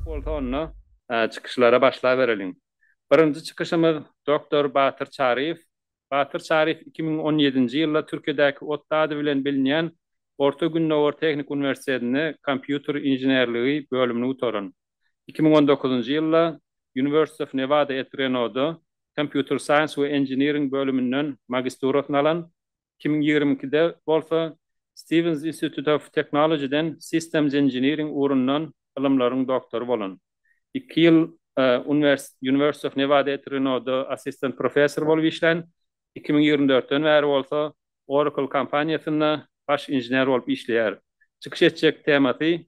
Bolsa onda çykyşlara başlabereliň. Birinji çykyşymyz doktor Batyr Çaryýew. Batyr Çaryýew iki müň on ýedinji ýylda Türkiýedäki otly ady bilen bilinýän Orta Gündogar tehniki uniwersitetinde kompýuter inženerligi bölümini gutaran. Iki müň on dokuzynjy ýylda University of Nevada at Reno-da Computer Science we Engineering bölüminden magisturasyny alan, iki müň ýigrimi ikide bolsa Stevens Institute of Technology-den Systems Engineering ugrundan ylymlaryň doktory bolan. Iki ýyl University of Nevada at Reno-da assistent professor bolup işlän, iki müň ýigrimi dörtden bäri bolsa Oracle kompaniýasynda baş inžener bolup işleýär. Çykyş etjek temasy.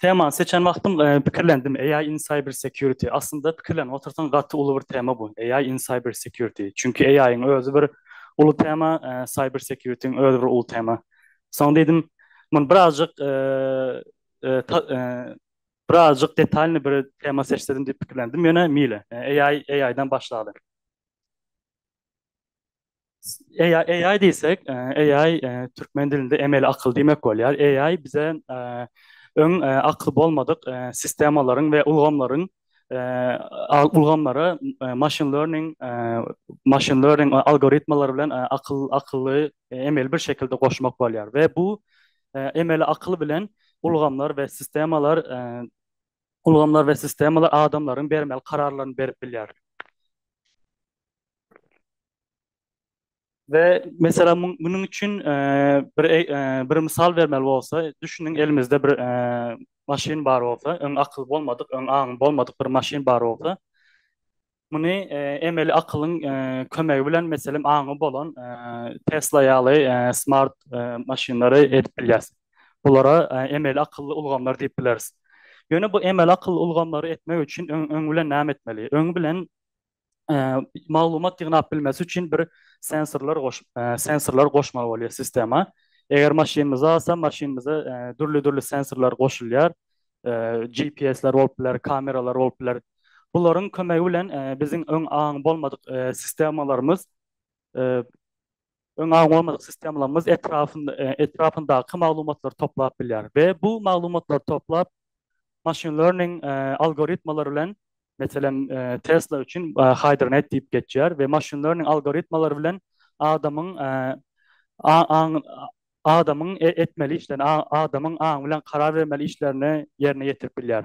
Temany seçen wagtym pikirlendim, AI in cyber security. Aslynda pikirlenip otursaň gaty uly bir tema bu, AI in cyber security. Çünki AI-yň özi bir uly tema, cyber security-yň özi bir uly tema. Soň diýdim, muny birazajyk birazajyk detalnyý bir tema seçsedim diýip pikirlendim. Ýöne meýli, AI AI-dan başlaly. AI, AI diýsek, AI türkmen dilinde emeli akyl diýmek bolýar. AI bize öň akyl bolmadyk sistemalaryň we ulgamlaryň ulgamlara machine learning machine learning algoritmalary bilen akyl akyly emeli bir şekilde goşmak bolýar we bu emeli akyl bilen ulgamlar we sistemalar ulgamlar we sistemalar adamlaryň bermeli kararlaryny berip bilýär. We meselem munuň üçin bir bir mysal bermeli bolsa, düşüniň elimizde bir maşyn bar bolsa, öň akyl bolmadyk, öň aň bolmadyk bir maşyn bar bolsa, muny emeli akylyň kömegi bilen meselem aňy bolan Tesla ýaly smart maşynlary edip bilýäs. Bulara emeli akylly ulgamlar diýip bileris. Ýöne bu emeli akylly ulgamlary etmek üçin öň bilen näme etmeli? Öň bilen maglumat ýygnap bilmesi üçin bir sensorlar goş sensorlar goşmaly bolýar sistema. Eger maşynymyzy alsa, maşynymyza dürli-dürli sensorlar goşulýar. GPS-ler bolup biler, kameralar bolup biler. Bularyň kömegi bilen biziň öň aňy bolmadyk sistemalarymyz Öň aň bolmadyk sistemalarymyz etrapyndaky maglumatlary toplap bilýär we bu maglumatlary toplap machine learning algoritmalary bilen, meselem, Tesla üçin Hydronet diýip geçýär we machine learning algoritmalary bilen adamyň adamyň etmeli işlerini, adamyň aňy bilen karar bermeli işlerini ýerine ýetirip bilýär.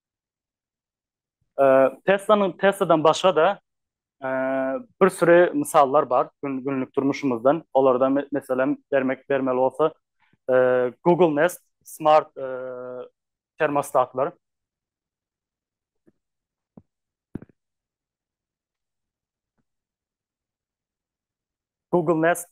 Teslanyň Tesladan başga-da bir süri mysallar bar günlük durmuşymyzdan. Olardan meselem bermek bermeli bolsa Google Nest smart termostatlar. Google Nest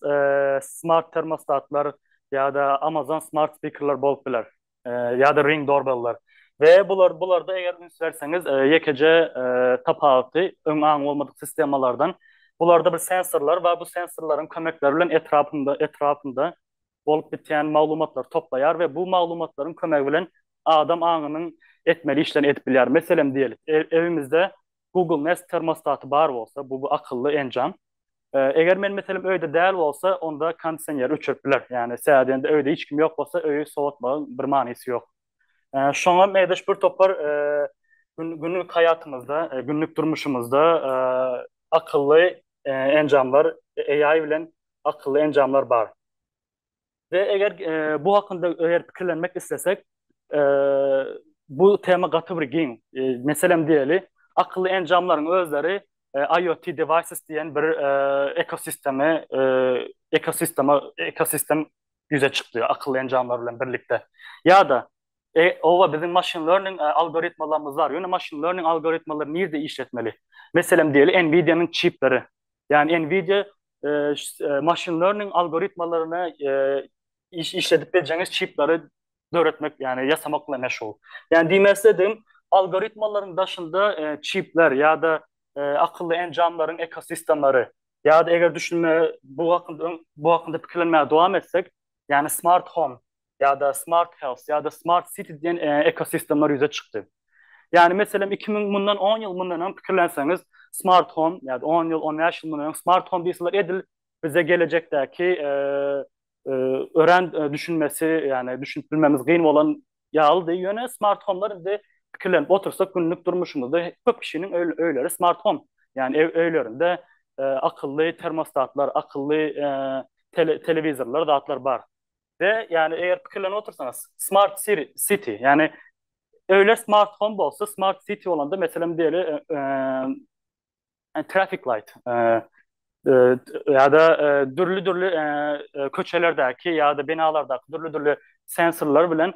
smart termostatlar ýa-da Amazon smart spikerler bolup biler. Ýa-da Ring doorbell-ler. We bular bularda eger üns berseňiz, ýekeje tapawuty öň aňy bolmadyk sistemalardan, bularda bir sensorlar bar, bu sensorlaryň kömekleri bilen etrapyňda etrapyňda bolup bitýän maglumatlary toplaýar we bu maglumatlaryň kömegi bilen adam aňynyň etmeli işlerini edip bilýär. Meselem diýelik, evimizde Google Nest termostaty bar bolsa, bu akylly enjam. Eger men meselem öýde däl bolsa, onda kondisioneri öçürip biler. Ýagny sähedende öýde hiç kim ýok bolsa, öýi sowatmagyň bir manysy ýok. Şoňa meýleş bir topar günlük haýatymyzda, günlük durmuşymyzda akylly enjamlar AI bilen akylly enjamlar bar. We eger bu hakynda eger pikirlenmek islesek, bu tema gaty bir giň. Meselem diýeli, akylly enjamlaryň özleri IoT devices diýen bir ekosisteme ekosistema ekosistem ýüze çykdy akylly enjamlar bilen birlikde. Ýa-da oba biziň machine learning algoritmalarymyz bar. Ýöne machine learning algoritmalary nirde işletmeli? Meselem diýeli, Nvidia-nyň çipleri. Ýagny Nvidia machine learning algoritmalaryny işledip biljeňiz çipleri döretmek, ýagny ýasamak bilen meşgul. Ýagny diýmek isledim, algoritmalaryň daşynda çipler ýa-da akylly enjamlaryň ekosistemleri ýa-da eger düşünmäge bu hakynda bu hakynda pikirlenmäge dowam etsek, ýagny smart home ýa-da smart health ýa-da smart city diýen ekosistemler ýüze çykdy. Ýagny meselem iki müň mundan on ýyl mundan öň pikirlenseňiz smart home ýa-da on ýyl on bäş ýyl mundan öň smart home diýseler edil bize gelejekdäki örän düşünmesi ýagny düşünip bilmemiz gyn bolan ýalydy. Ýöne smart homelar indi pikirlenip otursak günlük durmuşymyzda köp kişiniň öýleri smart home ýagny öýlerinde akylly termostatlar akylly telewizorlar zatlar bar. we ýagny eger pikirlenip otursaňyz smart city ýagny öýler smart home bolsa smart city bolanda meselem diýeli traffic light ýa-da dürli dürli köçelerdäki ýa-da binalardaky dürli dürli sensorlar bilen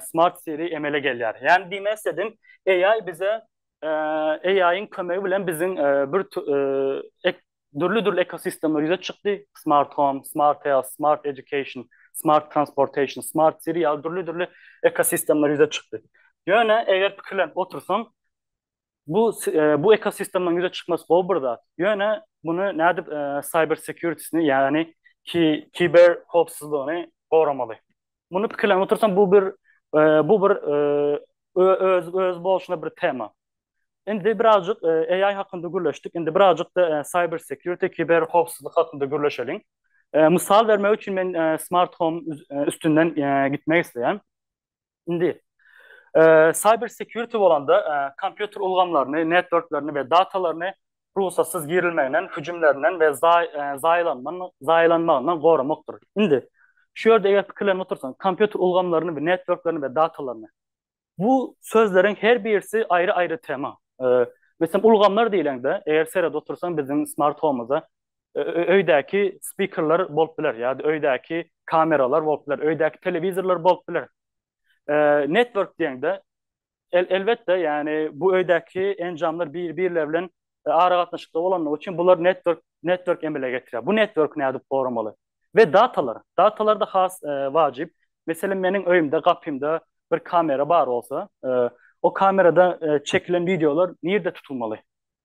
smart city emele gelýär. Ýagny diýmek istedim AI bize AI-iň kömegi bilen biziň bir dürli-dürli ekosistemler ýüze çykdy, Smart Home, Smart Health, Smart Education, Smart Transportation, Smart City ýaly dürli-dürli ekosistemler ýüze çykdy. Ýöne eger pikirlenip otursaň, bu bu ekosistemleriň ýüze çykmasy gowy bir zat. Ýöne muny nädip cyber security-sini, ýagny kiber howpsuzlygyny goramaly? Muny pikirlenip otursam bu bir e, bu bir e, öz öz bolşuna bir tema. Indi birazcık e, AI hakkında gürleşdik. Indi birazcık da e, cyber security, kiber howpsuzlyk hakkında gürleşeliň. E, misal bermek üçin men e, smart home e, üstünden e, gitmek isteýän. Indi e, cyber security bolanda e, kompýuter ulgamlaryny, networklerini we datalaryny rugsatsyz girilmeginden, hüjümlerinden we zaýalanmagyndan goramakdyr. Indi, şu ýerde eger pikirlenip otursaň, kompýuter ulgamlaryny we networklaryny we datalaryny. Bu sözleriň her birisi aýry-aýry tema. Meselem, ulgamlar diýleňde, eger seredip otursaň biziň smart home-da öýdäki spikerler bolup biler ýa-da öýdäki kameralar bolup biler, öýdäki telewizorlar bolup biler. Network diýeňde, El, elbetde, ýagny bu öýdäki enjamlar bir-birleri bilen aragatnaşykda bolandygy üçin bular network, network emele getirýär. Bu network nädip goramaly? We datalar, datalarda has wajyp. Meselem meniň öýümde gapymda bir kamera bar bolsa, o kamerada çekilen wideolar nirde tutulmaly?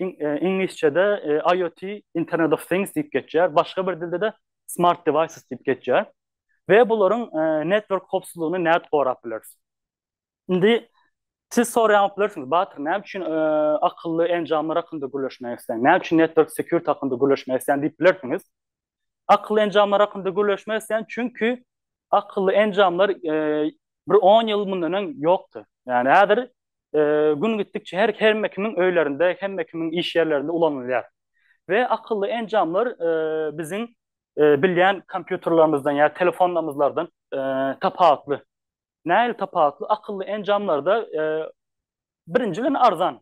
iňlisçede IoT, Internet of Things diýip geçýär, başga bir dilde-de Smart Devices diýip geçýär we bularyň network howpsuzlygyny nädip gorap bileris? Indi siz soraýan bilersiňiz, Batyr, näme üçin akylly enjamlar hakynda gürleşmek isleýän? Näme üçin network security hakynda gürleşmek isleýän diýip bilersiňiz? Akylly enjamlar hakynda gürleşmek isleýän, çünki akylly enjamlar bir on ýyl mundan öň ýokdy. Ýani häzir gün gitdikçe her hemme kimiň öýlerinde, hemme kimiň iş ýerlerinde ulanylýar. We akylly enjamlar biziň bilýän kompýuterlerimizden ýa telefonlarymyzlardan tapawutly. nähili tapawutly akylly enjamlarda birinji bilen arzan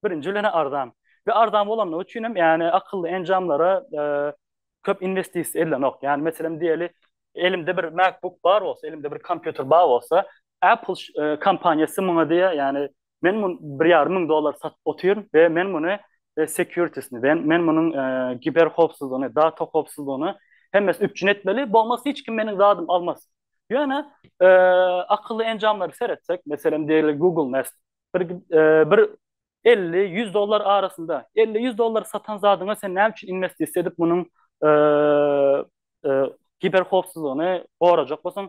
birinji bilen arzan we arzan bolanlygy üçin hem ýani akylly enjamlara köp investisiýa edilenok ýani meselem diýeli elimde bir MacBook bar bolsa elimde bir kompýuter bar bolsa Apple kompaniýasy muňa diýýär ýani Men muny bir ýarym müň dollara satyp otyryn we men muny securities-ni, men munuň kiber howpsuzlygyny, data howpsuzlygyny hemmesini üpjün etmeli, bolmasa hiç kim meniň zadymy almaz. Ýöne akylly enjamlary seretsek, meselem diýeli Google Nest, bir elli, ýüz dollar arasynda, elli, ýüz dollara satan zadyňa sen näme üçin inwestisiýa edip munuň kiber howpsuzlygyny gorajak bolsaň,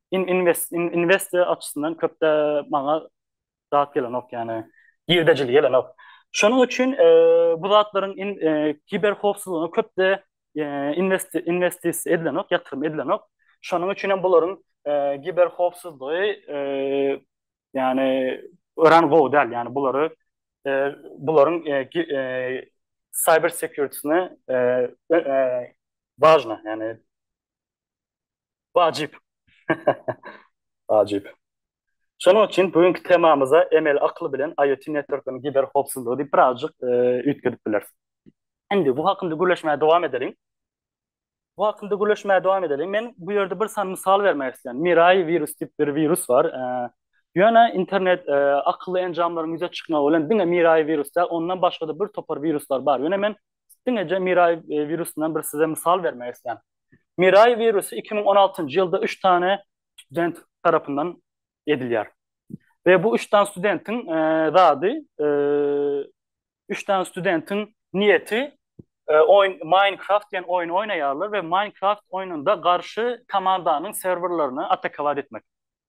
in, invest, in, investiýa açysyndan köp-de maňa zat gelenok, ýani girdejili gelenok. Şonuň üçin e, bu zatlaryň in, e, kiber howpsuzlygyna köp-de e, invest, investis edilenok, ýatyrym edilenok. Şonuň üçin hem bularyň e, kiber howpsuzlygy e, ýani öran gowy däl, ýani bulary e, bularyň e, e, cyber security-sine e, e, e, важно, ýani Wajyp. Wajyp. Şonuň üçin bu günki temamyza emeli akyl bilen IoT networklaryň kiber howpsuzlygy diýip birazjyk üýtgedip bileris. Indi bu hakynda gürleşmäge dowam edeliň. Bu hakynda gürleşmäge dowam edeliň. Men bu ýerde bir sany mysal bermek isleýän. Mirai wirus diýip bir wirus bar. Ýöne internet akylly enjamlaryň ýüze çykmagy bilen diňe Mirai wirus däl, ondan başga-da bir topar wiruslar bar. Ýöne men Diňeje Mirai wirusundan bir size mysal bermek isleýän. Mirai wirusy 2016-njy ýylda üç sany student tarapyndan edilýär. We bu üç sany studentiň zady, üç sany studentiň niýeti oýun Minecraft diýen oýun oýnaýarlar we Minecraft oýnunda garşy komandanyň serwerlerini atakowat etmek.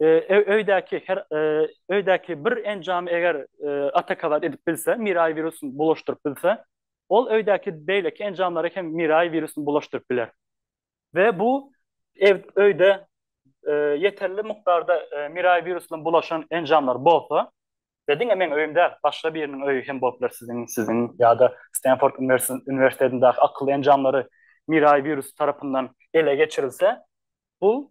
öýdäki her öýdäki bir enjamy eger atakawat edip bilse, miraý wirusyny bulaşdyryp bilse, ol öýdäki beýleki enjamlara hem miraý wirusyny bulaşdyryp biler. We bu ew öýde ýeterli mukdarda miraý wirusyna bulaşan enjamlar bolsa, we diňe meň öýüm däl, başga biriniň öýi hem bolup biler, siziň, siziň ýa-da Stenford uniwersitetindäki akylly enjamlary miraý wirusy tarapyndan ele geçirilse, bu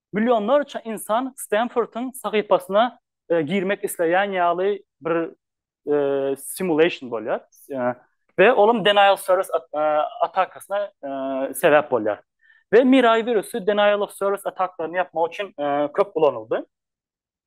Millionlarça ynsan Stanfordyň sahypasyna girmek isleýän ýaly bir simulation bolýar. We olam denial of service atakasyna sebäp bolýar. We Mirai wirusy denial of service atakasyny ýapmak üçin köp ulanyldy.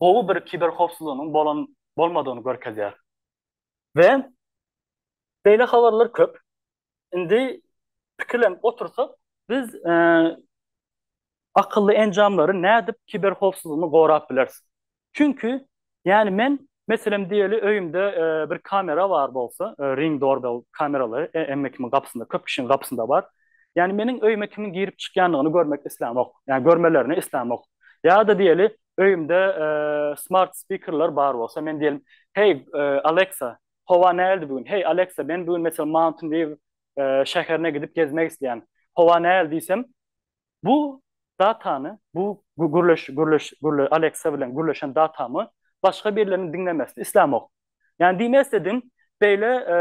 gowy bir kiberhowpsuzlygynyň bolan bolmadygyny görkezýär. We beýle habarlar köp. Indi pikirlenip otursak, biz akylly enjamlary nädip kiberhowpsuzlygyny gorap bileris? Çünki, ýani men, meselem diýeli, öýümde bir kamera bar bolsa, ring doorbell kameralary hemme kimiň gapysynda, köp kişiň gapysynda bar. Ýani meniň öýüme kimiň girip çykýandygyny görmek islämok. Ýani görmelerini islämok. Ýa-da diýeli, öýümde smart spikerler bar bolsa, men diýelim, heý, Alexa, howa nähildi bu gün? Heý, Alexa, men bu gün meselem Mountain View şäherine gidip gezmek isleýän. Howa nähili diýsem, bu datany, bu gürleş, gürleş, gürle, Alexa bilen gürleşen datamy başga birleriniň diňlemesini islämok. Yani diýmek istedim, beýle e,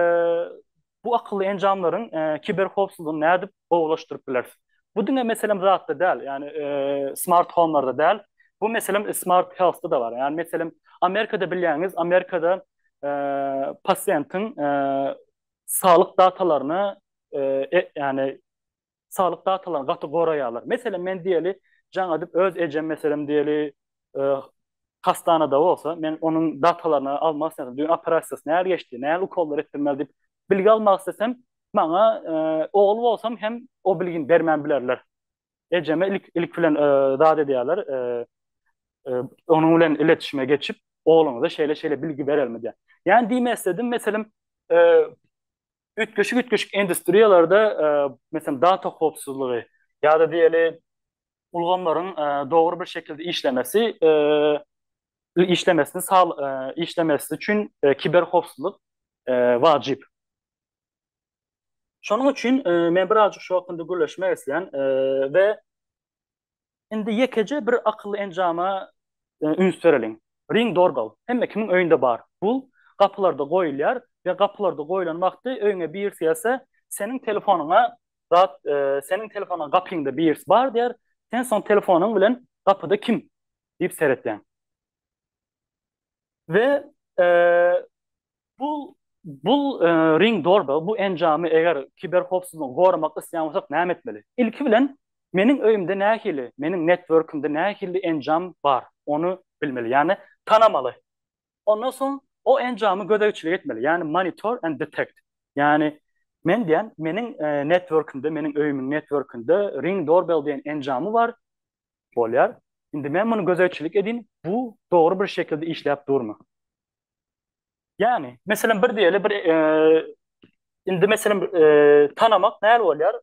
bu akylly enjamlaryň e, kiber howpsuzlygyny nädip gowulaşdyryp bileris? Bu diňe meselem zatda däl, yani e, smart home'larda däl. Bu meselem smart health'da da bar. Yani meselem Amerikada bilýäňiz, Amerikada e, pasiýentiň e, saglyk datalaryny e, e, yani saglyk datalaryny gaty goraýarlar. Meselem, men diýeli, jaň edip öz ejem meselem diýeli, e, hastanada bolsa, men onuň datalaryny almak isledim. Düýn operasiýasy näl geçdi, näl ukollar etdirmeli diýip bilgi almak istesem, maňa e, ogul bolsam hem o bilgini bermän bilerler. Ejeme ilk ilk bilen e, zat edýärler, e, e, onuň bilen iletişime geçip, ogluňyza şeýle-şeýle bilgi berelmi diýär. Ýani diýmek isledim, meselem, e, üýtgeşik üýtgeşik industriýalarda meselem data howpsuzlygy ýa-da diýeli ulgamlaryň dogry bir şekilde işlemesi işlemesini işlemesi üçin kiber howpsuzlyk wajyp. Şonuň üçin men birazajyk şu hakynda gürleşmek isleýän we Indi ýekeje bir akylly enjama üns bereliň. Ring doorbell. Hemme kimiň öýünde bar. Bu gapylarda goýulýar we gapylarda goýulan wagty öýüňe birisi gelse, seniň telefonyňa zat, seniň telefonyňa gapyňda birisi bar diýer, sen soň telefonyň bilen gapyda kim? diýip seretýäň. We Bu bu Ring Doorbell bu enjamy eger kiberhowpsuzlygy goramak isleýän bolsak näme etmeli? Ilki bilen meniň öýümde nähili, meniň networkimde nähili enjam bar, ony bilmeli, ýagny tanamaly. Ondan soň o enjamy gözegçilik etmeli, ýagny monitor and detect. Ýagny men diýýän, meniň networkimde, meniň öýümiň networkinde Ring Doorbell diýen enjamy bar, bolýar. Indi men muny gözegçilik edin, bu dogry bir şekilde işläp durmy? Ýani, meselem bir diýeli bir indi meselem tanamak näl bolýar?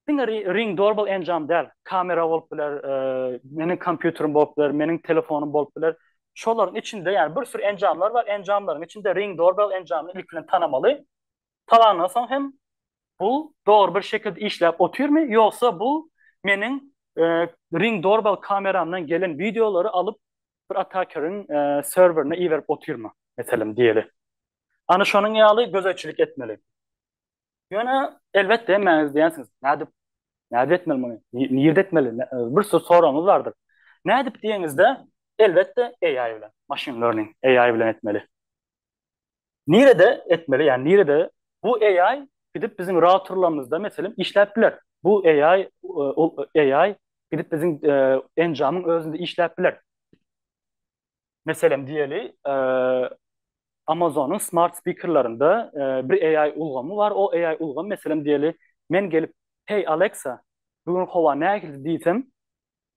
Diňe ring doorbell enjam däl. Kamera bolup biler, meniň kompýuterim bolup biler, meniň telefonym bolup biler. Şolaryň içinde ýani bir sürü enjamlar bar. Enjamlaryň içinde ring doorbell enjamyny ilki bilen tanamaly. talandan soň hem bu dogry bir şekilde işläp otyrmy, ýogsa bu meniň Ring Doorbell kameramdan gelen wideolary alyp bir atakeriň serwerine iberip otyrmy, meselem diýeli. Ana şonuň ýaly gözegçilik etmeli. Ýöne elbetde hemmäňiz diýensiňiz, nädip, nädip etmeli muny, nirde etmeli, bir sürü soragyňyz bardyr. Nädip diýeňizde, elbetde AI bilen, machine learning, AI bilen etmeli. Nirede etmeli yani nirede bu AI gidip bizim routerlarymyzda meselem işläp biler. Bu AI AI gidip bizim enjamyň özünde işläp biler. Meselem diýeli Amazonyň smart spikerlerinde bir AI ulgamy bar. O AI ulgam meselem diýeli men gelip hey Alexa bugün howa nähili diýsem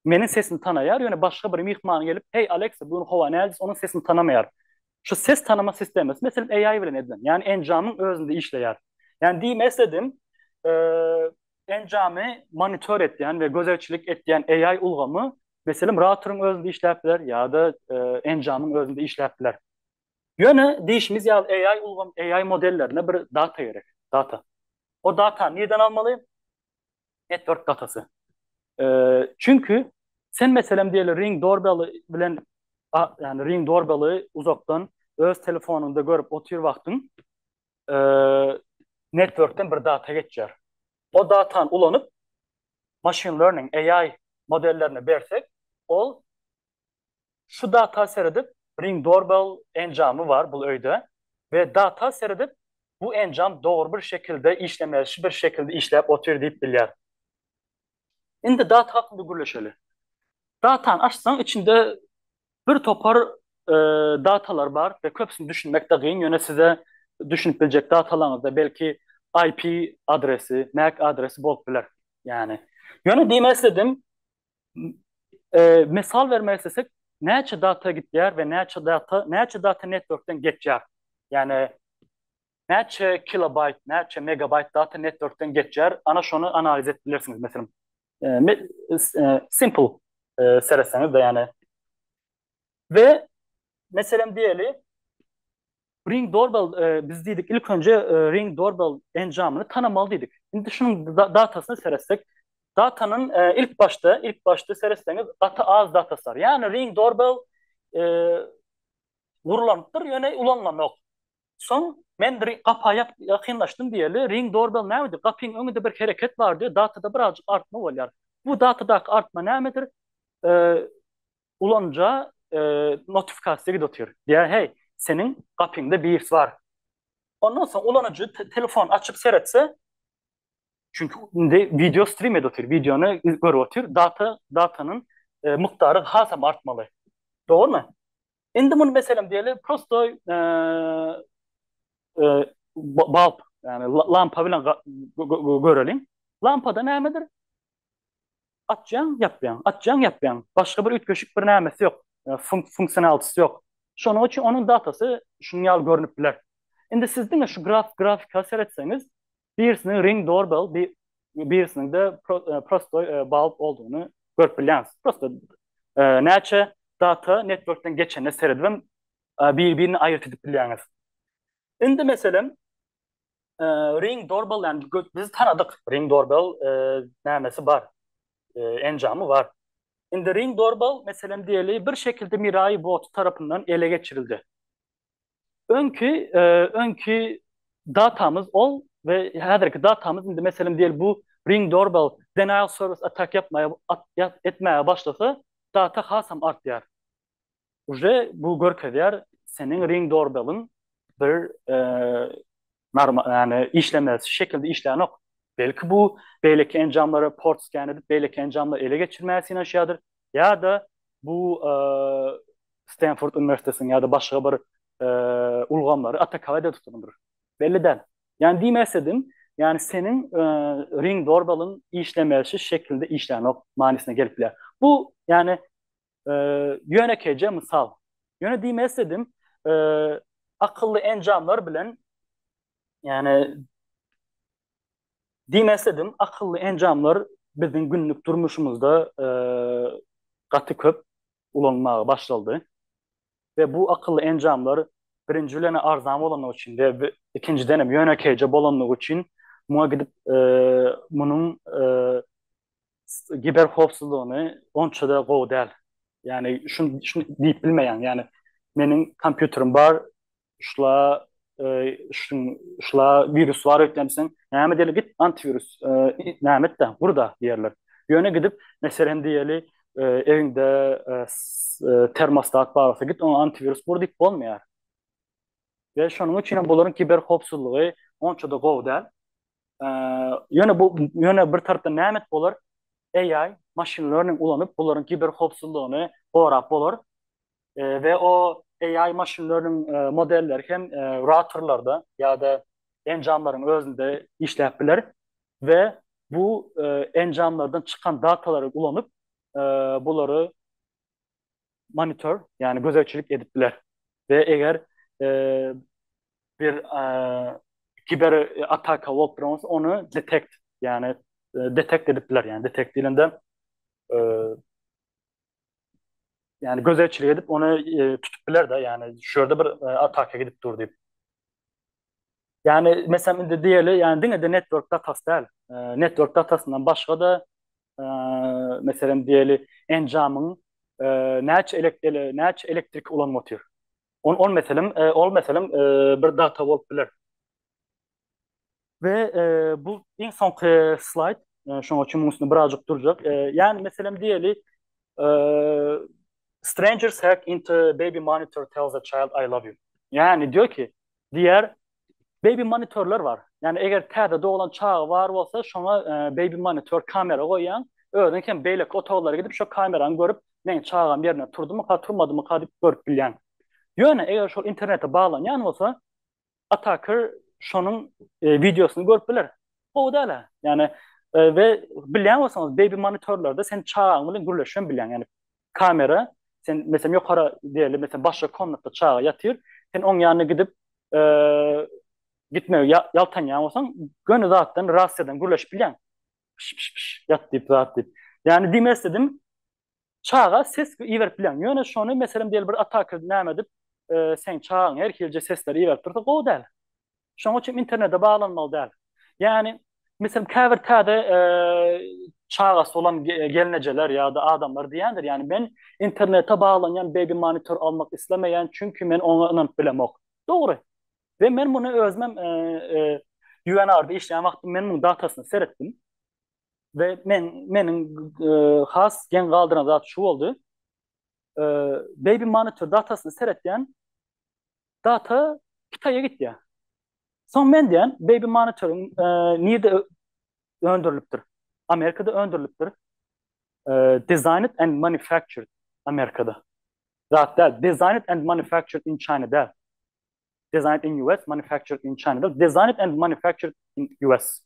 Meniň sesimi tanaýar, ýöne başga bir myhman gelip, Heý, Aleksa, bu gün howa näjis, onuň sesini tanamaýar. Şu ses tanama sistemasi, meselem, AI bilen edilen, ýagny enjamyň özünde işleýär. Ýagny diýmek isledim, enjamy monitor etýän we gözegçilik etýän AI ulgamy, meselem, routeryň özünde işläp biler ýa-da enjamyň özünde işläp biler. Ýöne diýşimiz ýaly, AI ulgam, AI modellerine bir data gerek, data. O datany nirden almaly? Network datasy. Çünki sen meselem diýeli Ring Doorbell bilen ýani Ring Doorbell-i uzakdan öz telefonyňda görüp otyr wagtyň networkden bir data geçýär. O datany ulanyp machine learning, AI modellerine bersek, ol Şu data seredip Ring Doorbell enjamy bar bul öýde we data seredip bu enjam dogry bir şekilde işlemesi bir şekilde işläp otyr diýip bilýär. Indi data hakynda gürleşeli. Datany açsaň içinde bir topar datalar bar we köpüsini düşünmekde gyn ýöne size düşünip biljek datalaryňyzda belki IP adresi, mac adresi bolup biler. Ýöne diýmek isledim Mysal bermek islesek, näçe data gidýär we näçe data, näçe data networkden geçýär? Ýagny näçe kilobaýt, näçe megabaýt data networkden geçýär? Ana şony analiz edip bilersiňiz. Meselem, simple seretseňiz-de ýagny. We meselem diýeli, Ring Doorbell e, biz diýdik ilk önce e, Ring Doorbell enjamyny tanamaly diýdik. Indi şunuň datasyna seretsek, datanın e, ilk başda, ilk başda seretseňiz gaty az datasy bar. Ýagny Ring Doorbell e, gurlanypdyr, ýöne ulanlanok. Soň men gapa ýakynlaşdym diýeli, Ring Doorbell nämedir? Gapyň öňünde bir hereket bar diýip, datada birazjyk artma bolýar. Bu datadaky artma nämedir? E, ulanyja notifikasiýa gidip otyr. Diýýär, heý, seniň gapyňda birs bar. Ondan soň ulanyjy telefon açyp seretse, çünki indi wideo strim edip otyr, wideony görüp otyr, data, datanyň mukdary hasam artmaly. Dogrumy? Indi muny meselem diýeli, prosto balp, ýagny lampa bilen göreliň. Lampada nämedir? Açýaň, ýapýaň, açýaň, ýapýaň. Başga bir üýtgeşik bir nämesi ýok, funksionalysy ýok. Şonuň üçin onuň datasy şunuň ýaly görnüp biler. Indi siz diňe şu grafika seretseňiz, birisiniň ring doorbell, birisiniň-de prostoý bulb boldugyny görüp bilýäňiz. Prosto näçe data networkden geçenine seredibem bir-birini aýryt edip bilýäňiz. Indi meselem, e, Ring Doorbell yani biz tanadyk Ring Doorbell e, nämesi bar. E, enjamy bar. Indi Ring Doorbell meselem diýeli bir şekilde Mirai Bot tarapyndan ele geçirildi. Öňki e, öňki datamyz ol ve häzirki datamyz indi meselem diýeli bu Ring Doorbell denial service attack yapmaya at, yap, etmeye başlasa data hasam artýar. Uje bu görkezýär seniň ring dorbeliň bir normal ýani işlemez şekilde işlänok. Belki bu beýleki enjamlara port scan edip beýleki enjamlary ele geçirmäge synanyşýardyr ýa-da bu Stanford uniwersitetiniň ýa-da başga bir ulgamlary atakować edip tutandyr. Belli däl. Ýani diýmek isledim, ýani seniň ring dorbeliň işlemezşi şekilde işlänok manysyna gelip bilýär. Bu ýani e, ýönekeýje mysal. Ýöne diýmek isledim, e, akylly enjamlar bilen ýani diýmek isledim, akylly enjamlar biziň günlük durmuşymyzda e, gaty köp ulanmaga başlandy. Ve bu akıllı enjamlar birinci bilen arzan bolanlygy üçin ve ikinciden hem ýönekeýje bolanlygy üçin muňa gidip e, munuň e, giber howpsuzlygyny onça-da gowy däl. Ýani şuny şuny diýip bilmeýän. Ýani meniň kompýuterim bar, şula e, şuň şula wirus bar öýtlenseň, näme diýeli git antiwirus e, näme etde, gurda diýerler. Ýöne gidip meselem diýeli e, ewiňde e, termostat bar bolsa git oňa antiwirus gur diýip bolmaýar. Ve şonuň üçin hem bularyň kiber howpsuzlygy onça da gowy däl. Ýöne bu ýöne bir tarapdan näme et bolar? AI, machine learning ulanyp, bularyň kiber howpsuzlygyny gorap bolar. We o AI, machine learning modelleri hem routerlarda ýa-da enjamlaryň özünde işläp biler we bu enjamlardan çykan datalary ulanyp, bulary monitor, yani gözegçilik edip biler. Ve eger e, bir e, kiber ataka bolup duran bolsa, onu detect, yani e, detect edip biler. Yani detect dilinde e, yani gözegçilik edip onu e, tutup biler de, yani şurada bir e, ataka gidip dur deyip. Yani mesela indi diýeli, yani diňe de network datası däl. Ee, network datasyndan başga da ee, meselem diýeli enjamyň ee, näçe elektrikli näçe elektrik ulan motor. On on meselem ee, ol meselem ee, bir data bolup biler. Ve ee, bu iň soňky slayd. Ee, şoň üçin munuň üstünde birazjyk durjak. Ee, yani meselem diýeli ee, strangers hack into baby monitor tells a child I love you. Yani diyor ki diýer. Baby monitorlar bar. Ýagny eger täze doglan çaga bar bolsa şoňa baby monitor kamera goýýaň. Özüň hem beýleki otaglara gidip şo kamerany görüp meň çagam ýerinde turdymyka turmadymyka diýip görüp bilýäň. Ýöne eger şol internete baglanýan bolsa ataker şonuň wideosyny görüp biler. Gowy dälä. Ýagny we bilýän bolsaňyz baby monitorlarda sen çagaň bilen gürleşem bilýäň. Ýagny kamera sen meselem ýokara diýeli meselem başga komnatda çaga ýatyr sen oň ýanyna gidip e, gitme ýaltanýan bolsaň göni zatdan rasiýadan gürleşip bilýän ýat diýip zat diýip ýani diýmek istedim çaga ses iberip bilýän ýöne şony meselem diýeli bir ataka näme edip e, sen çagaň her hilje sesleri iberip dursa gowy däl Şonuň üçin internete baglanmaly däl. Ýagny, meselem, käbir täze çagasy bolan gelnejeler ýa-da adamlar diýendir, ýagny men internete baglanýan baby monitor almak islemeýän, çünki men oňa ynanyp bilemok. Dogry. We men muny özümem UNR-da işleýän wagtym men munuň datasyna seretdim. We men meniň has geň galdyran zat şu boldy. Baby monitor datasyna seretýän data Hytaýa gitýär. Soň men diýen Baby Monitor nirde öndürilipdir? Amerikada öndürilipdir. Designed and manufactured Amerikada. Zat däl. Designed and manufactured in China däl. Designed in US, manufactured in China däl. Designed and manufactured in US.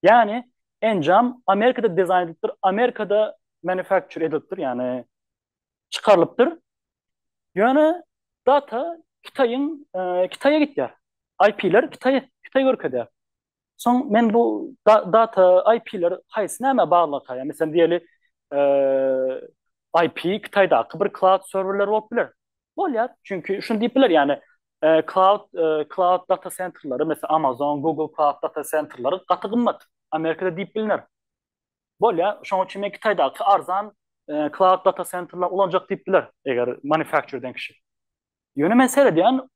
Ýani enjam Amerikada dizaýn edilipdir, Amerikada manufacture edilipdir, ýani çykarylypdyr. Ýöne data Hytaýyň Hytaýa gitýär. IP-ler Hytaý Hytaý görkezýär. Soň men bu data IP-ler haýsy nämä baglanyka? Ýa meselem diýeli IP Hytaýdaky bir cloud serwerler bolup biler. Bolýar. Çünki şuny diýip biler ýani cloud cloud data centerleri meselem Amazon, Google cloud data centerleri gaty gymmat. Amerikada diýip bilner. Bolýa, şoň üçin men Kitaýdaky arzan cloud data centerleri ulanjak diýip biler, eger manufacture eden kişi. Ýöne men seredýän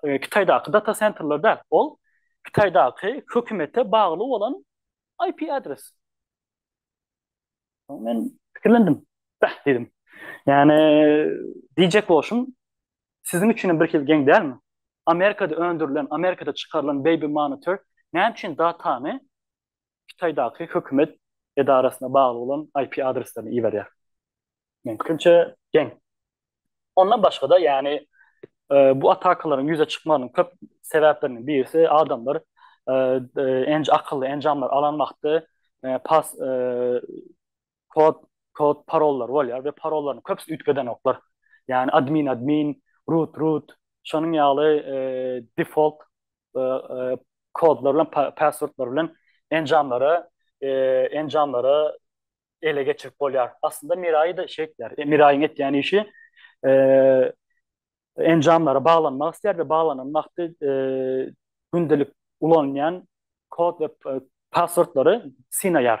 Kitaýdaky data centerleri däl, ol Kitaýdaky hökümete bagly bolan IP adres. Men pikirlendim. Bäh diýdim. Ýani diýjek bolşum, siziň üçin hem birhili geň dälmi? Amerikada öndürilen, Amerikada çykarylan baby monitor näme üçin datany Hytaýdaky hökümet edarasyna bagly bolan IP adreslerini iberýär. Meň pikirimçe geň. Ondan başga-da ýani bu atakalaryň ýüze çykmagynyň köp sebäpleriniň birisi adamlar akylly enjamlar alan wagty pas kod kod parollary bolýar we parollaryň köpüsi üýtgedenoklar. Ýani admin admin, root root, şonuň ýaly e, default e, e, kodlar bilen passwordlar bilen enjamlara e, enjamlara ele geçirip bolýar. Aslynda Mirai da şeýtler. E, Miraiň etýän işi e, enjamlara baglanmak istär we baglanan wagty e, gündelik ulanýan kod we e, passwordlary synaýar.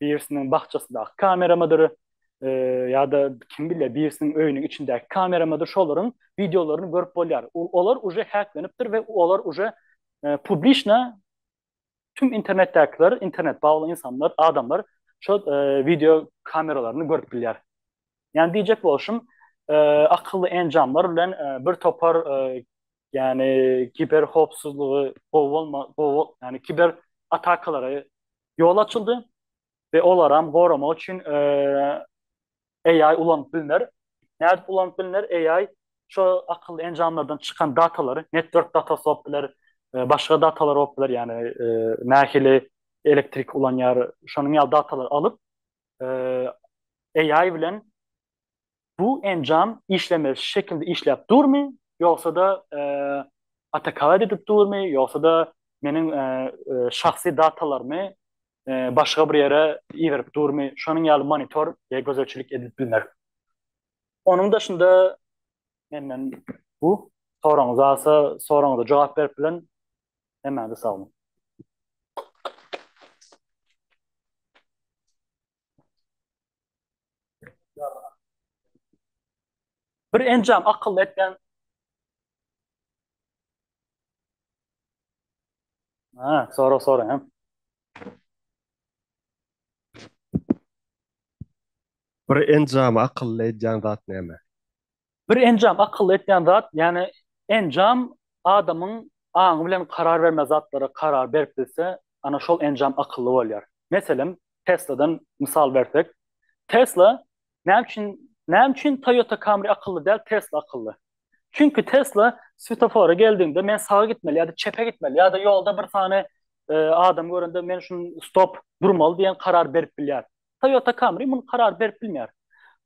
birisiniň bakjasydaky kameramydyr, ýa-da kim bilýär, birisiniň öýüniň içindäki kameramydyr, şolaryň wideolaryny görüp bolýar. Olar uje häklenipdir we olar uje publiçna tüm internetdäkiler, internet bagly ynsanlar, adamlar şo wideo kameralaryny görüp bilýär. Ýani diýjek bolşum, akylly enjamlar bilen bir topar ýani kiber howpsuzlygy gowy bolma, gowy, ýani kiber atakalary ýol açyldy we olaram goramak üçin AI ulanyp bilner. Nädip ulanyp bilner? AI şo akylly enjamlardan çykan datalary, network datasy bolup biler, başga datalar bolup biler, ýagny nähili elektrik ulanýar, şonuň ýaly datalary alyp, AI bilen bu enjam işlemez şekilde işläp durmy, ýogsa-da atakalad edip durmy, ýogsa-da meniň şahsy datalarymy başga bir ýere iberip durmy, şonuň ýaly monitor we gözegçilik edip bilmek. Onuň daşynda menden bu. Soragyňyz barsa, soragyňyza jogap berip bilen. Hemmäňize sag boluň. Bir enjam akylly etken. Ha, sonra sonra hem. Bir enjam akylly edýän zat näme? Bir enjam akylly etýän zat, ýagny enjam adamyň aňy bilen karar berme zatlara karar berip bilse, ana şol enjam akylly bolýar. Meselem, Tesla-dan mysal bersek, Tesla näme üçin näme üçin Toyota Camry akylly däl, Tesla akylly? Çünki Tesla svetofora geldiňde men saga gitmeli ýa-da çepe gitmeli ýa-da ýolda bir sany e, adam görende men şun stop durmaly diýen karar berip bilýär. Toyota Camry muny karar berip bilmeýär.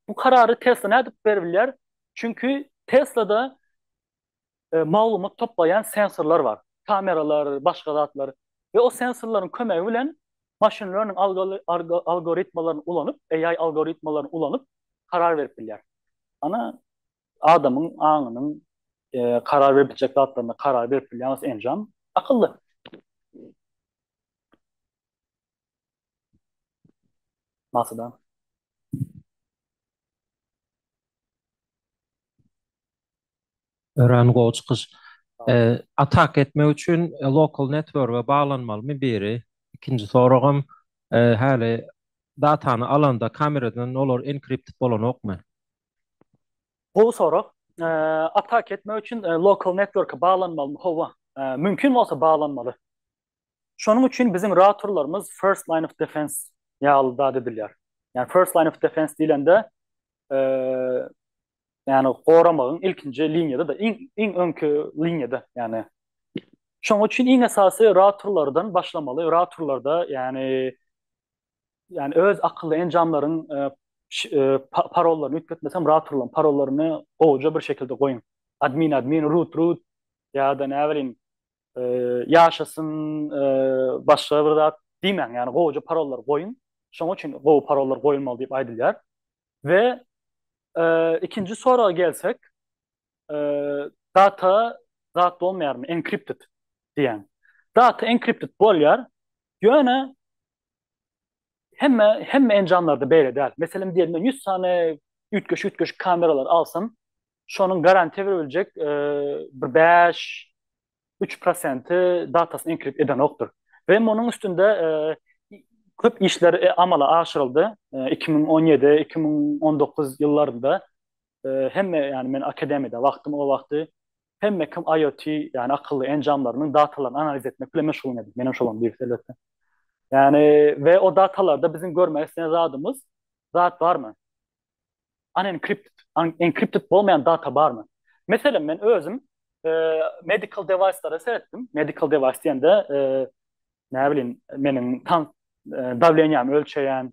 Bu karary Tesla nädip beribilýär? Çünki Teslada e, maglumat toplaýan sensorlar bar. Kameralar, başga zatlar we o sensorlaryň kömegi bilen machine learning algoritmalaryny ulanyp, AI algoritmalaryny ulanyp karar berip bilýär. Ana adamyň aňynyň e, karar berip biljek zatlaryna karar berip bilýän enjam akylly. Masadan. Öran gowy çykyş. Atak etmek üçin lokal networge baglanmalymy biri? Ikinji soragym häli datany alanda kameradan olar enkripted bolanokmy? Gowy sorag. Atak etmek üçin lokal networke baglanmalymy? Hawa. Mümkin bolsa baglanmaly. Şonuň üçin biziň ratorlarymyz first line of defense ýaly zat edilýär. Ýani first line of defense diýlende ýani goramagyň ilkinji liniýada-da, iň iň öňki liniýada, ýani Şonuň üçin iň esasy ratorlardan başlamaly. Ratorlarda ýani ýani öz akylly enjamlaryň parollaryny üýtgetmesem ratorlaryň parollaryny gowja bir şekilde goýuň. Admin admin root root ýa-da näbilim ýaşasyn, başga bir zat diýmäň, ýagny gowuja parollar goýuň. Şonuň üçin gowy parollar goýulmaly diýip aýdylýar. We ikinji soraga gelsek, data zat bolmaýarmy, encrypted diýýän. Data encrypted bolýar, ýöne Hemme hemme enjamlarda beýle däl. Meselem diýelim men 100 sany üýtgeşik üýtgeşik kameralar alsam, şonuň garantiýa berbiljek e, bir 5 3 prosenti datasyny enkripsiýa edenokdyr. Ve munuň üstünde e, köp işler e, amala aşyryldy. E, 2017, 2019 ýyllarynda e, hemme yani men akademiyada vaktim o vakti hemme kim IoT, ýagny akylly enjamlarynyň datalaryny analiz etmek bilen meşgullanýardy. Menem şolaryň birisi elbetde. Ýagny we o datalarda biziň görmek isleýän zadymyz zat barmy? Unencrypted, encrypted bolmaýan data barmy? Meselem, men özüm e, medical device-lere seretdim. Medical device diýende, e, näbilim, meniň tan e, dawleniýämi ölçeýän,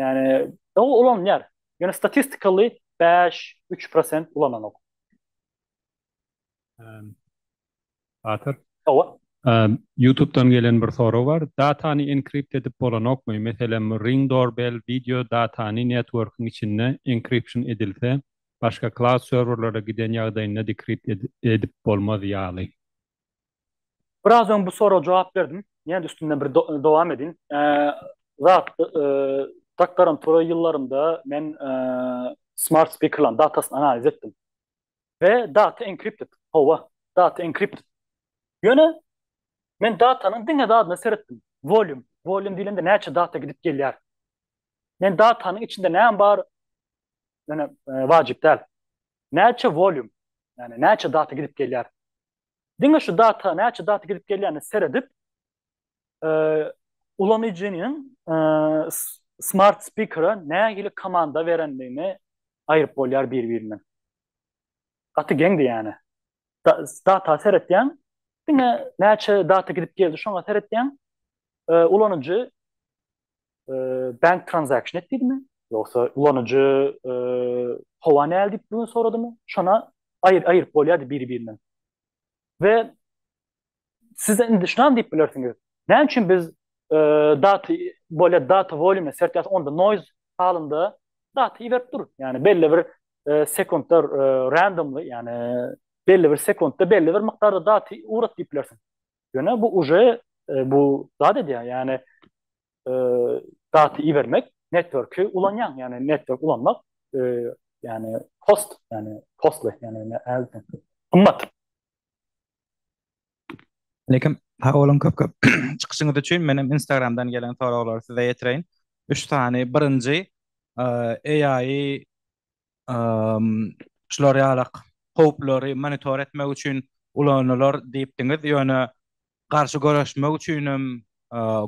Ýani ol ulanýar. Ýöne statistikally 5, 3 prosent ulananok. Batyr. Hawa. Ýutubdan gelen bir sorag bar. Datany enkript edip bolanokmy? Meselem Ring Doorbell wideo datany networkyň içinde enkripsion edilse, başga cloud serwerlere giden ýagdaýynda dekript edip bolmaz ýaly. Biraz öň bu soraga jogap berdim. Ýene-de üstünden bir dowam edin. Zat doktorantura ýyllarynda men smart speakerlaryň datasyny analiz etdim. We data encrypted. Hawa, data encrypted. Ýöne men datanyň diňe zadyna seretdim. Volume. Volume diýlende näçe data gidip gelýär. Men datanyň içinde näme bar? Ýöne wajyp däl. Näçe volume? Ýani näçe data gidip gelýär? Diňe şu data näçe data gidip gelýänine seredip, ulanyjynyň smart speaker-a nähili komanda berendigini aýryp bolýar bir-birinden. Gaty geňdi ýani. Data seretýäň, diňe näçe data gidip geldi şoňa seretýäň. Ulanyjy e, bank transaction etdimi? Ýogsa ulanyjy e, howa näl diýip bilen soradymy? Şona aýyr aýyryp bolýardy biri-birinden. Ve siz indi şunam diýip bilersiňiz. Näme üçin biz e, data bolýar data volýumy sertýäs onda noise halynda data iberip dur. Yani belli bir e, sekundda e, randomly yani belli bir sekundda belli bir miktarda data urat diýip bilersiň. Ýöne bu uje e, bu zat edýär, ýagny e, daty ibermek networki ulanýaň, ýagny network ulanmak e, ýagny post, ýagny postly, ýagny näme gymmat. Lekin ha olam köp köp çykyşyňyz üçin men hem Instagramdan gelen soraglary size ýetireýin. 3 sany birinji AI şular ýalak howplary monitor etmek üçin ulanylar diýipdiňiz, ýöne garşy göreşmek üçin hem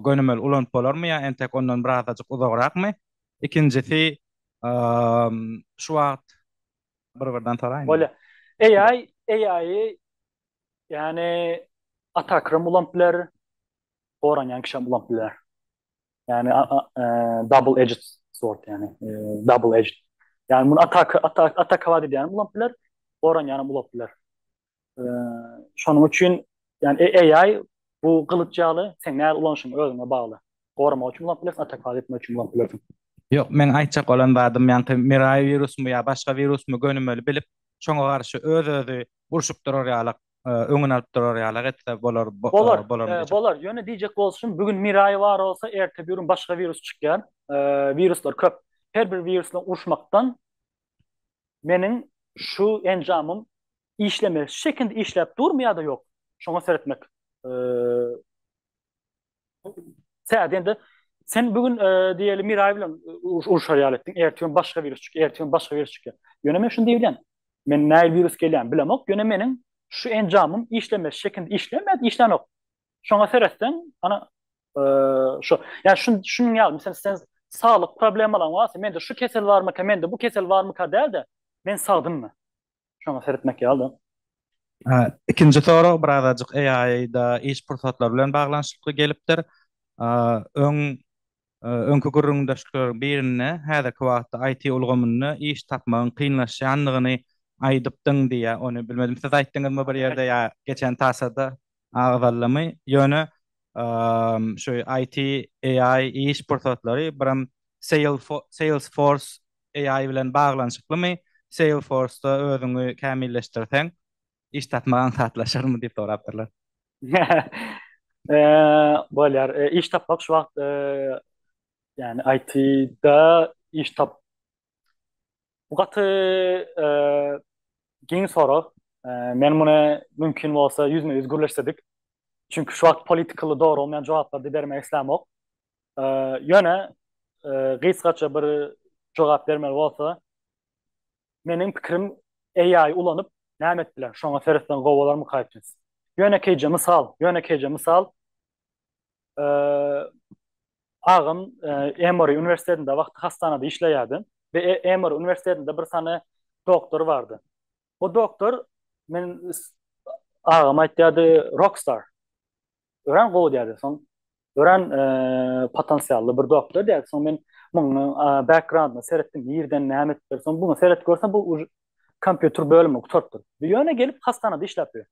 gönümel ulanyp bolarmy ýa entek ondan birazajyk uzagrakmy? Ikinjisi, şu wagt bir-birden soraýyn. Bolýar. AI, AI-y ýani attacker hem ulanyp biler, goranýan kişi hem ulanyp biler. Yani e, double edged sword yani. E, double edged. Yani bunu atak atak atak hava diýen bulup biler. Oran yani bulup biler. E, şonuň üçin yani e, AI bu gylyç ýaly sen näme ulanyşyň özüňe bagly. Gorama üçin bulup biler, atak hava etmek üçin bulup biler. Yok, men aýtjak bolan zadym ýaňky Mirai virusmy ýa başga virusmy gönümeli bilip, şoňa garşy öz-özi urşup durar ýalyk. öňüni alyp durar ýalak etse bolar Bolar, bolaryny diýjek. bolar. Ýöne diýjek bolşum, bu gün Mirai bar bolsa, erte birun başga wirus çykýar. Wiruslar köp. Her bir wirus bilen uruşmakdan meniň şu enjamym işlemeli. Şekinde işläp durmy ýa-da ýok? Şoňa seretmek Sen de sen bugün e, diyelim Miray bilen e, uruşar ýaly etdiň. Ertüň başga virus çykýar, ertüň başga virus çykýar. Ýöne men şunu diýilýän. Men näil virus gelýän bilemok. Ýöne meniň şu enjamym işlemez şekilde işlemez, işlänok. Şoňa seretseň, ana e, şu, ýa şun şunuň ýaly, meselem sen saglyk problemalaryň barsa, mende şu kesel barmyka, mende bu kesel barmyka däl-de, men sagdynmy? Şoňa seretmek ýaly-da. Ikinji sorag bir azajyk AI-da iş pursatlary bilen baglanyşykly gelipdir. Öň, öňki gürrüňdeşlikleriň birinde häzirki wagtda IT ulgamynda iş tapmagyň kynlaşýandygyny aýdypdyň diýýär. Ony bilmedim siz aýtdyňyzmy bir ýerde ýa geçen tasada agzaldymy? Ýöne şu IT, AI iş pursatlary birem Salesforce AI bilen baglanyşyklymy? Salesforce-da özüňi kämilleşdirseň, iş tapmak aňsatlaşarmy? diýip sorapdyrlar. Bolýar. Iş tapmak şu wagt, ýagny IT-da iş tap, bu gaty giň sorag. Men muny mümkin bolsa ýüzme-ýüz gürleşsedik. Çünki şu wagt politikaly dogry bolmaýan jogaplary-da bermek islämok. Ýöne gysgaça bir jogap bermeli bolsa, meniň pikirim AI ulanyp näme etdiler, şoňa seretseň gowy bolarmyka itis. Ýönekeýje mysal, ýönekeýje mysal, agam Emory uniwersitetinde wagty hassanada işleýärdi we Emory uniwersitetinde bir sany doktor bardy. O doktor men agam aýtýardy Rockstar. Öran gowy diýdi. Soň Öran e, potensially bir doktor diýdi. Soň men muň e, backgroundyna seretdim. Nirden näme etdiler? Soň bunu seret görsem bu kompýuter bölümi gutartdyr. Ýöne gelip hastanada işläp ýör.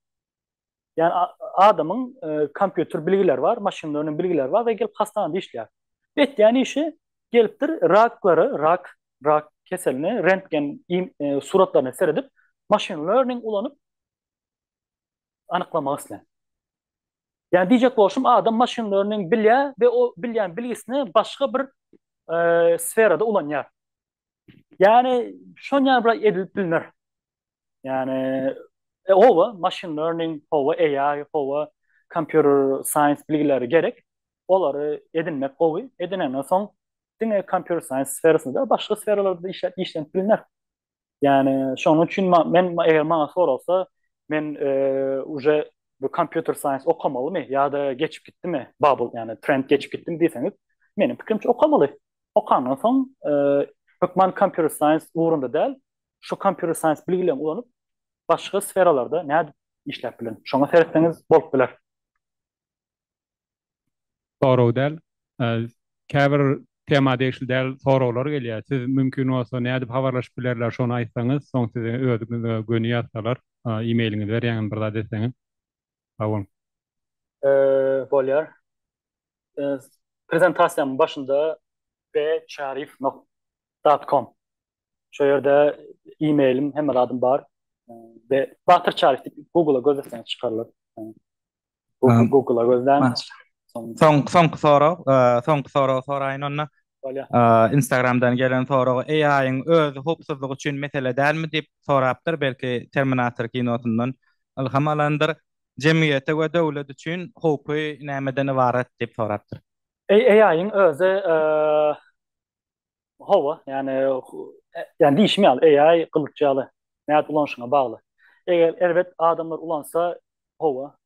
Yani adamın e, kompüter bilgiler var, machine learning bilgiler var ve gelip hastanede işleýär. Etýän işi gelipdir raklary, rak, rak keselini rentgen e, suratlarına seredip machine learning ulanıp anyklamak islän. Ýani diýjek bolşum adam maşyn learning bilýär we o bilýän bilgisini başga bir sferada ulanýar. Ýani şony ýa bir edilip bilner. Ýani e, owa maşyn learning, owa AI, owa computer science bilgileri gerek. Olary edinmek gowy. Edinenden soň diňe computer science sferasynda başga sferalarda işläp işlenip bilner. Yani şonuň üçin men eger maňa soralsa men e, uje bu computer science okamalymy ýa-da geçip gitdimi bubble yani trend geçip gitdim diýseňiz meniň pikirimçe okamaly. Okandan soň e, hökman computer science ugrunda däl şu computer science bilgilerini ulanyp başga sferalarda nädip işläp bilen. Şoňa seretseňiz bolup biler. Sorag däl. Käbir tema degişli däl soraglar gelýär. Siz mümkin bolsa nädip habarlaşyp bilerler şony aýtsaňyz, soň size özüňize göni ýazsalar, e-mailiňizi berýäňiz bir zat etseňiz. Sag boluň. Bolýar. Prezentasiýanyň başynda bcharif. Com. Şo ýerde e-mailim hemme zadym bar. Batyr Çaryf diýip Google-a göz etseňiz çykarlar. Google, Google-a gözlän. Soň soňky sorag, soňky sorag soraýyn onda. Instagramdan gelen sorag AI-yň öz howpsuzlygy üçin mesele dälmi diýip sorapdyr, belki Terminator kinosyndan ylham alandyr. Jemgyýete we döwlet üçin howpy nämeden ybarat diýip sorapdyr. AI-yň özi Hawa, ýani ýani diýişim ýaly AI gylyç ýaly. Nädip ulanyşyňa bagly. Eger erbet adamlar ulansa, hawa,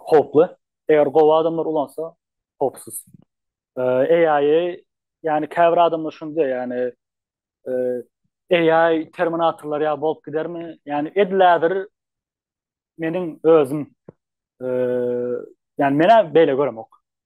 howply. Eger gowy adamlar ulansa, howpsuz. AI-y ýani käbir adamlar şuny diýýär, ýani AI terminatorlar ýaly bolup gidermi? Ýani edil häzir meniň özüm ýani men-ä beýle göremok.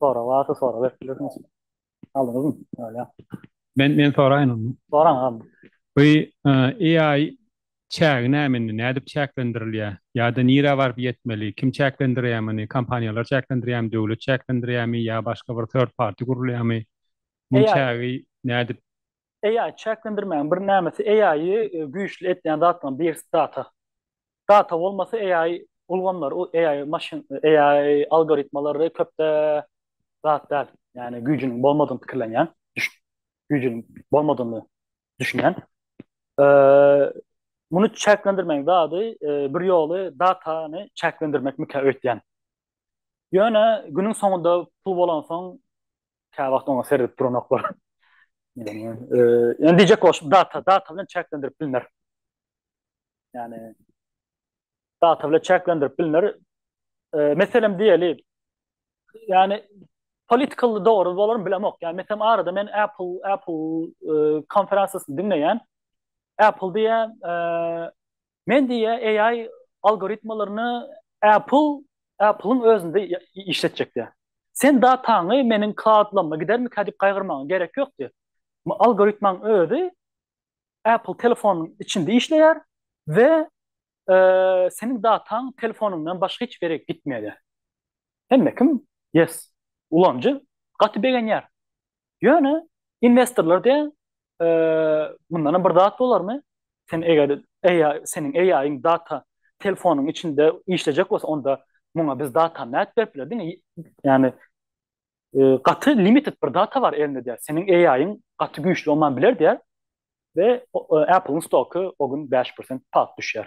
Sorag barsa sorag berip bilersiňiz. Aldyňyzmy? Ýa. Men men soraýyn onda. Soraň agam. Bu AI çägi näme indi? Nädip çäklendirilýär? Ýa-da nirä baryp ýetmeli? Kim çäklendirýär muny? Kompaniýalar çäklendirýärmi, döwlet çäklendirýärmi ýa başga bir third party gurulýarmy? Bu çägi nädip AI çäklendirmäň bir nämesi AI güýçli etýän zatlaryň birisi data. Data bolmasa AI ulgamlar AI maşyn AI algoritmalary köpde zat däl. Ýani güýjüniň bolmadygyny pikirlenýän, güýjüniň bolmadygyny düşünýän. Muny çäklendirmeň zady bir ýoly datany çäklendirmekmika öýtýän. Ýöne günüň soňunda pul bolansoň Käwagt oňa seredip duranoklar. Ýöne diýjek bolşum data, data bilen çäklendirip bilner. Ýani data bilen çäklendirip bilner. Meselem diýeli. Ýani political dogry bolarmy bilemok. Ýani meselem arada men Apple Apple konferensiýasyny diňleýän. Apple diýä Men diýýä AI algoritmalaryny Apple Apple-yň özünde işletjek diýýä. Sen dataňy meniň klaudlamma gidermikä diýip gaýgyrmagyňa gerek ýok diýýä. Algoritmaň özi Apple telefonynyň içinde işleýär we seniň dataň telefonyňdan başga hiç bir ýere gitmeýär diýýä. Hemme kim yes ulanyjy gaty begenýär. Ýöne inwestorlar diýen mundanam bir zat bolarmy? Sen eger AI, seniň AI-iň data telefonyň içinde işlejek bolsa, onda muňa biz data nädip berip biler diňe? Ýani gaty limited bir data bar elinde diýär. Seniň AI-iň gaty güýçli olman biler diýär we Apple-iň stoky o gün 5% palt düşýär.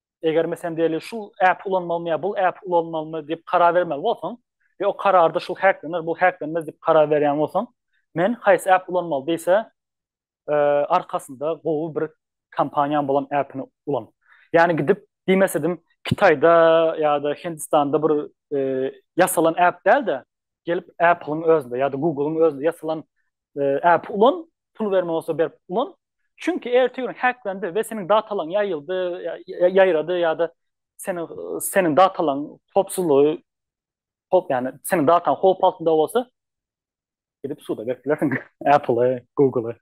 eger meselen diýeli şu äpi ulanmalymy ýa bul äpi ulanmalymy diýip karar bermeli bolsaň we o kararda şu häklener, bu häklenmez diýip karar berýän bolsaň, men haýsy äp ulanmaly diýse, e, arkasynda gowy bir kompaniýaň bolan äpini ulan. Ýani gidip diýmes edim, Kitaýda ýa-da Hindistanda bir e, ýasalan äp däl-de, gelip Apple-yň özünde ýa-da Google-yň özünde ýasalan Äp ulan, pul berme bolsa berip ulan. Çünki ertesi gün hacklendi we seniň datalaň ýaýyldy, ýaýrady ýa-da seniň seniň datalaň howpsuzlygy howp ýani seniň dataň howp altynda bolsa gidip suda berip bilersiň Apple-e, Google-e.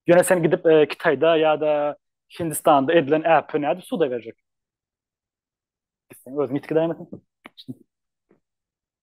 Ýöne sen gidip e, Kitayda ya da Hindistanda edilen äpi näde suda berjek? Sen özüň ýitgi daýmasyň.